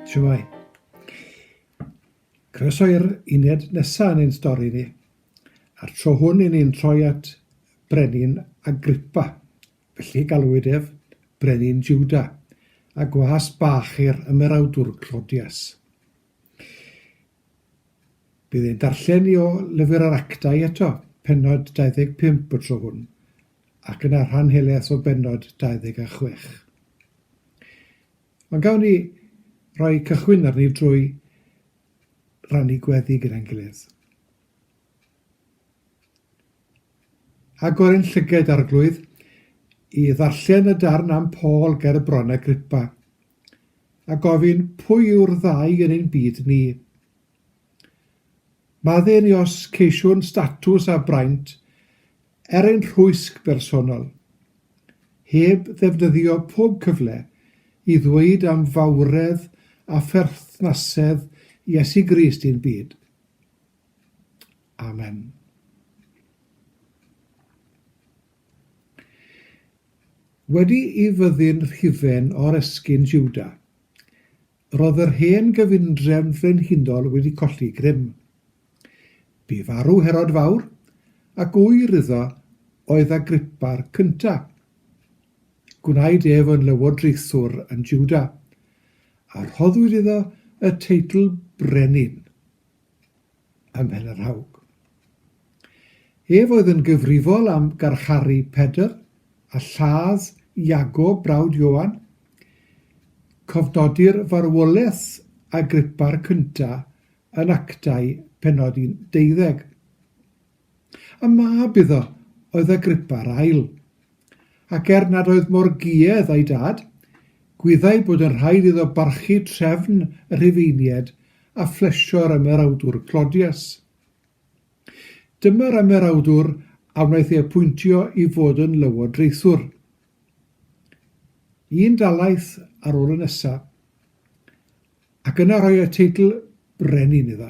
Shwmai. Croeso i'r uned nesaf yn ein stori ni. A'r tro hwn i ni'n troi at brenin Agrippa, felly galwyd ef brenin Juda, a gwas bach i'r ymerawdwr Clodias. Bydd ein darllen ni o Lyfr yr Actau eto, pennod 25 y tro hwn, ac yna rhan helaeth o bennod 26. Ond gawn ni roi cychwyn arni drwy rannu gweddi gyda'n gilydd. Agor ein llyged, Arglwydd, i ddarllen y darn am Paul ger y Bron Agrippa, a gofyn pwy yw'r ddau yn ein byd ni. Madde ni os ceisiwn statws a braint er ein rhwysg bersonol, heb ddefnyddio pob cyfle i ddweud am fawredd a pherthnasedd Iesu Grist i'n byd. Amen. Wedi i fyddin hufen oresgyn Jwda, roedd yr hen gyfundrefn frenhinol wedi colli grym. Bu farw Herod Fawr, ac ŵyr iddo oedd Agrippa'r Cyntaf. Gwnaed ef yn lywodraethwr yn Jwda, a rhoddwyd iddo y teitl brenin. ym Mhen-y-rhaug. Ef oedd yn gyfrifol am garcharu Pedr a lladd Iago, brawd Ioan. Cofnodir farwolaeth Agrippa'r Cyntaf yn Actau, pennod 11. A mab iddo oedd Agrippa yr Ail. Ac er nad oedd mor guedd â'i dad, gwyddai bod yn rhaid iddo barchu trefn y Rhufeiniaid a phlesio'r ymerawdwr Clodias. Dyma'r ymerawdwr a wnaeth ei apwyntio i fod yn lywodraethwr. Un dalaeth ar ôl y nesa, ac yna rhoi y teitl brenin iddo.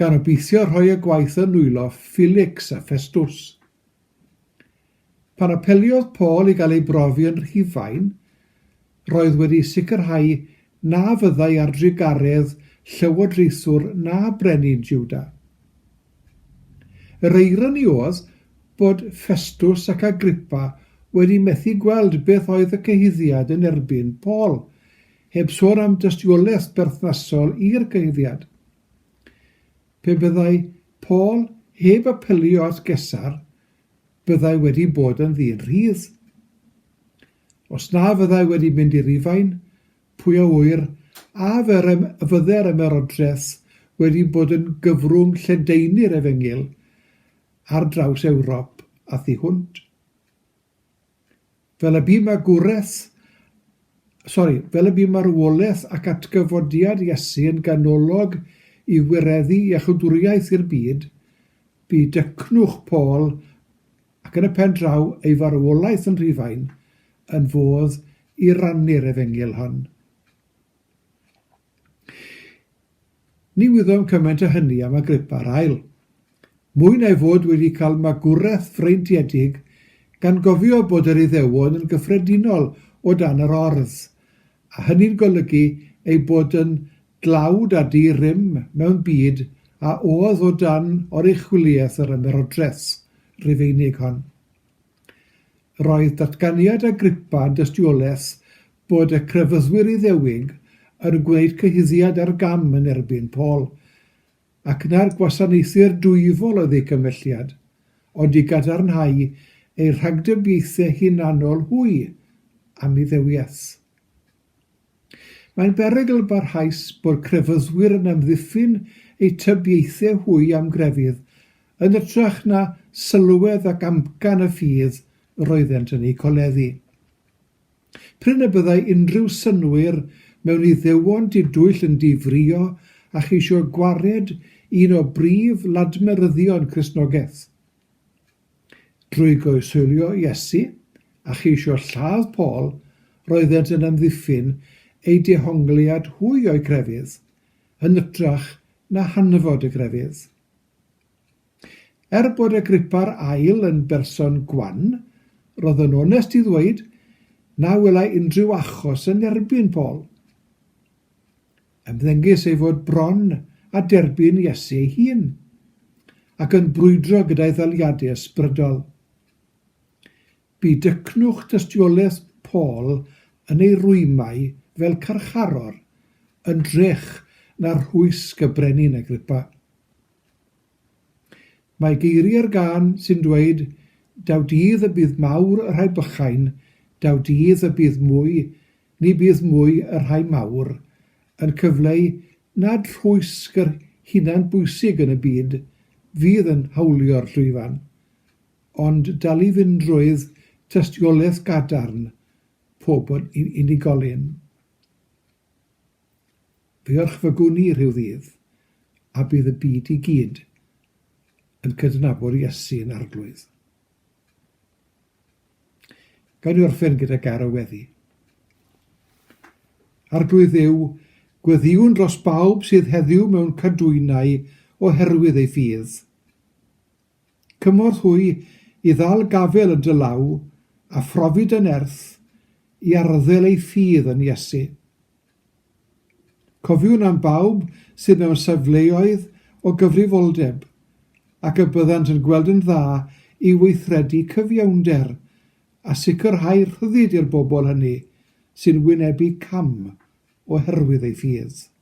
gan obeithio rhoi y gwaith yn nwylo Felix a Ffestws. Pan apeliodd Paul i gael ei brofi yn Rhufain, roedd wedi sicrhau na fyddai ar drugaredd llywodraethwr na brenin Jiwda. Yr eironi oedd bod Ffestws ac Agrippa wedi methu gweld beth oedd y cyhuddiad yn erbyn Paul, heb sôn am dystiolaeth berthnasol i'r cyhuddiad. Pe byddai Paul heb apelio at Gesar, byddai wedi bod yn ddyn rhydd. Os na fyddai wedi mynd i Rufain, pwy a ŵyr a fydde'r Ymerodraeth wedi bod yn gyfrwng lledaenu'r Efengyl ar draws Ewrop a thu hwnt. Fel y bu magwraeth, sori, fel y bu marwolaeth ac atgyfodiad Iesu yn ganolog i wireddu iachawdwriaeth i'r byd, bu dycnwch Paul, ac yn y pen draw ei farwolaeth yn Rhufain, yn fodd i rannu'r efengyl hon. Ni wyddom cymaint â hynny am Agrippa'r Ail. Mwy na'i fod wedi cael magwraeth freintiedig, gan gofio bod yr Iddewon yn gyffredinol o dan yr ordd, a hynny'n golygu eu bod yn dlawd a di-rym mewn byd a oedd o dan oruchwyliaeth yr Ymerodraeth Rufeinig hon. Roedd datganiad Agrippa yn dystiolaeth bod y crefyddwyr Iddewig yn gwneud cyhuddiad ar gam yn erbyn Paul, ac na'r gwasanaethwyr dwyfol oedd eu cymhelliad, ond i gadarnhau eu rhagdybiaethau hunanol hwy am Iddewiaeth. Mae'n berygl barhaus bod crefyddwyr yn amddiffyn eu tybiaethau hwy am grefydd, yn ytrach na sylwedd ac amcan y ffydd yr oeddent yn eu coleddu. Prin y byddai unrhyw synnwyr mewn Iddewon didwyll yn difrio a cheisio gwared un o brif ladmeryddion Cristnogaeth. Drwy goeshoelio Iesu a cheisio lladd Paul, roeddent yn amddiffyn eu dehongliad hwy o'i grefydd, yn ytrach na hanfod y grefydd. Er bod Agrippa'r Ail yn berson gwan, roedd yn onest i ddweud na welai unrhyw achos yn erbyn Paul. Ymddengys ei fod bron a derbyn Iesu ei hun, ac yn brwydro gyda'i ddaliadau ysbrydol. Bu dycnwch dystiolaeth Paul yn ei rwymau fel carcharor yn drech na rhwysg y brenin Agrippa. Mae geiriau'r gân sy'n dweud 'Daw dydd y bydd mawr y rhai bychain, daw dydd y bydd mwy, ni bydd mwy y rhai mawr' yn cyfleu nad rhwysg yr hunan bwysig yn y byd fydd yn hawlio'r llwyfan, ond dalifyndrwydd tystiolaeth gadarn pob unigolyn. Diolch fy gwn i rhyw ddydd, a bydd y byd i gyd yn cydnabod Iesu yn Arglwydd. Gawn ni orffen gyda gair o weddi. Arglwydd Dduw, gweddiwn dros bawb sydd heddiw mewn cadwynau oherwydd ei ffydd. Cymorth hwy i ddal gafel yn dy law, a phrofi dy nerth i arddel ei ffydd yn Iesu. Cofiwn am bawb sydd mewn safleoedd o gyfrifoldeb, ac y byddant yn gweld yn dda i weithredu cyfiawnder a sicrhau rhyddid i'r bobl hynny sy'n wynebu cam oherwydd ei ffydd.